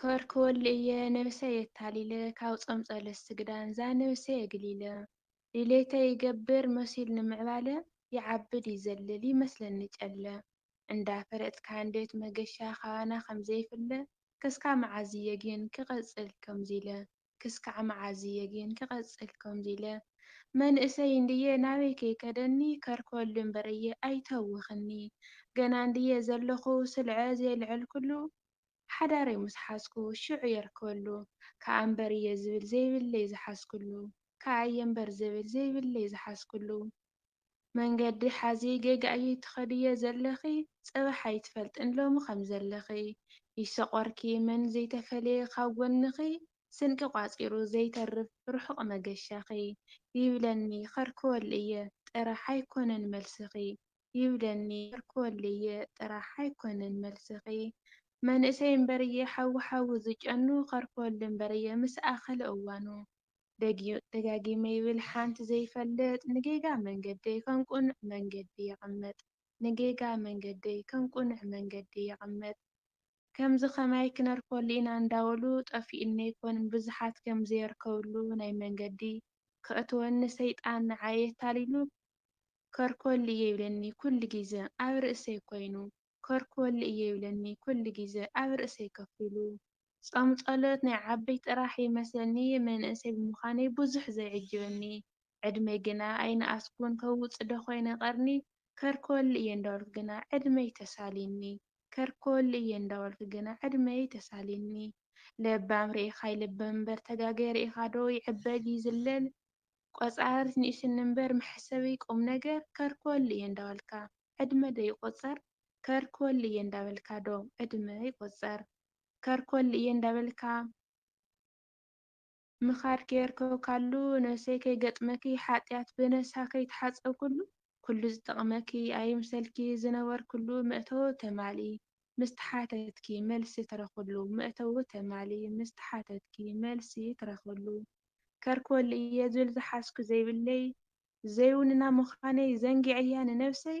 ከርክወሉ እየ ነብሰይ የታሊለ ካብ ጾም ጸሎት ስግዳን ዛነብሰይ የግሊለ ድሌተይ ይገብር መሲሉ ንምዕባለ ይዓብድ ይዘልል ይመስለኒ ጨለ እንዳ ፈለጥካ እንዴት መገሻ ካባና ከምዘይፍለ ከስካብ መዓዝ እየ ጊን ክቅጽል ከምዚለ ክስካዕ መዓዝ እየ ግን ክቐጽል ከምዚ ኢለ መንእሰይ እንድየ ናበይ ከይከደኒ ከርክበሉ እምበር እየ ኣይተውኽኒ ገና እንድየ ዘለኹ ስልዐ ዘይልዐልኩሉ ሓዳረይ ምስ ሓዝኩ ሽዑ የርክበሉ ከኣ እምበር እየ ዝብል ዘይብለይ ዝሓዝኩሉ ከኣ እየ እምበር ዝብል ዘይብለይ ዝሓዝኩሉ መንገዲ ሓዚ ጌጋ እዪ ትከድዮ ዘለኪ ፅባሕ ኣይትፈልጥን ሎሚ ከም ዘለኪ ይሶቆርኪ መን ዘይተፈለየ ካብ ጎንኪ ስንቂ ቋፂሩ ዘይተርፍ ርሑቅ መገሻኪ ይብለኒ ከርክወሉ እየ ጥራሕ ኣይኮነን መልስኪ ይብለኒ ከርክወሉ እየ ጥራሕ ኣይኮነን መልስኪ መንእሰይ እምበርየ ሓዊ ሓዊ ዝጨኑ ከርክወሉ እምበርየ ምስ ኣከለ እዋኑ ደጋጊመ ይብል ሓንቲ ዘይፈልጥ ንጌጋ መንገደይ ከም ቅኑዕ መንገዲ የቐምጥ ንጌጋ መንገደይ ከም ቅኑዕ መንገዲ የቐምጥ ከምዚ ከማይ ክነርፈሉ ኢና እንዳበሉ ጠፊኡኒ ኣይኮን ንብዙሓት ከም ዘየርከብሉ ናይ መንገዲ ከእትወኒ ሰይጣን ንዓይ ኣታሊሉ ከርከሉ እየ ይብለኒ ኩሉ ግዘ ኣብ ርእሰይ ኮይኑ ኮርክወሉ እየ ይብለኒ ኩሉ ግዘ ኣብ ርእሰይ ኮፍ ኢሉ። ፆም ፀሎት ናይ ዓበይቲ ጥራሕ ይመስለኒ መንእሰይ ብምዃነይ ብዙሕ ዘየዕጅበኒ ዕድመይ ግና ኣይነኣስኩን ከውፅእ ዶ ኮይነ ቀርኒ ከርክወሉ እየ እንዳበልኩ ግና ዕድመይ ተሳሊኒ ከርክወሉ እየ እንዳበልኩ ግና ዕድመይ ተሳሊኒ ለባም ሪኢኻ ይልበም እምበር ተጋገየ ሪኢኻ ዶ ይዕበግ ይዝለል ቆፃሪት ንእሽኒ እምበር መሕሰቢ ቁምነገር ከርኮል እየ እንዳበልካ ዕድመ ዶ ይቆፀር ከርኮል እየ እንዳበልካ ዶ ዕድመ ይቆፀር ከርኮል እየ እንዳበልካ ምኻድ ከየርከብካሉ ነብሰይ ከይገጥመክይ ሓጥያት ብነሳ ከይተሓፀብኩሉ ኩሉ ዝጠቕመኪ ኣይምሰልኪ ዝነበርክሉ መእተዊ ተማልኢ ምስ ተሓተትኪ መልሲ ትረኽብሉ መእተዊ ተማልኢ ምስ ተሓተትኪ መልሲ ትረኽብሉ ከርክበሉ እየ ዝብል ዝሓዝኩ ዘይብለይ ዘይውንና ምዃነይ ዘንጊዐያ ንነብሰይ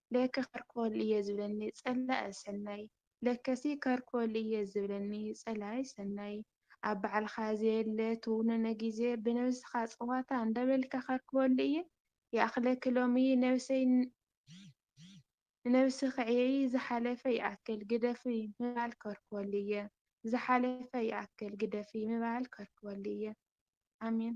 ለከ ካርኮል እየ ዝብለኒ ጸላኢ ሰናይ ለከሲ ካርኮል እየ ዝብለኒ ጸላኢ ሰናይ ኣብ ባዕልካ ዘየለ ትውንኖ ግዜ ብነብስካ ጸዋታ እንዳበልካ ካርኮል እየ ይኣክለኪ ሎሚ ነብሰይ ንነብሲ ክዕየይ ዝሓለፈ ይኣክል ግደፊ ምባል ካርኮል እየ ዝሓለፈ ይኣክል ግደፊ ምባል ካርኮል እየ ኣሜን።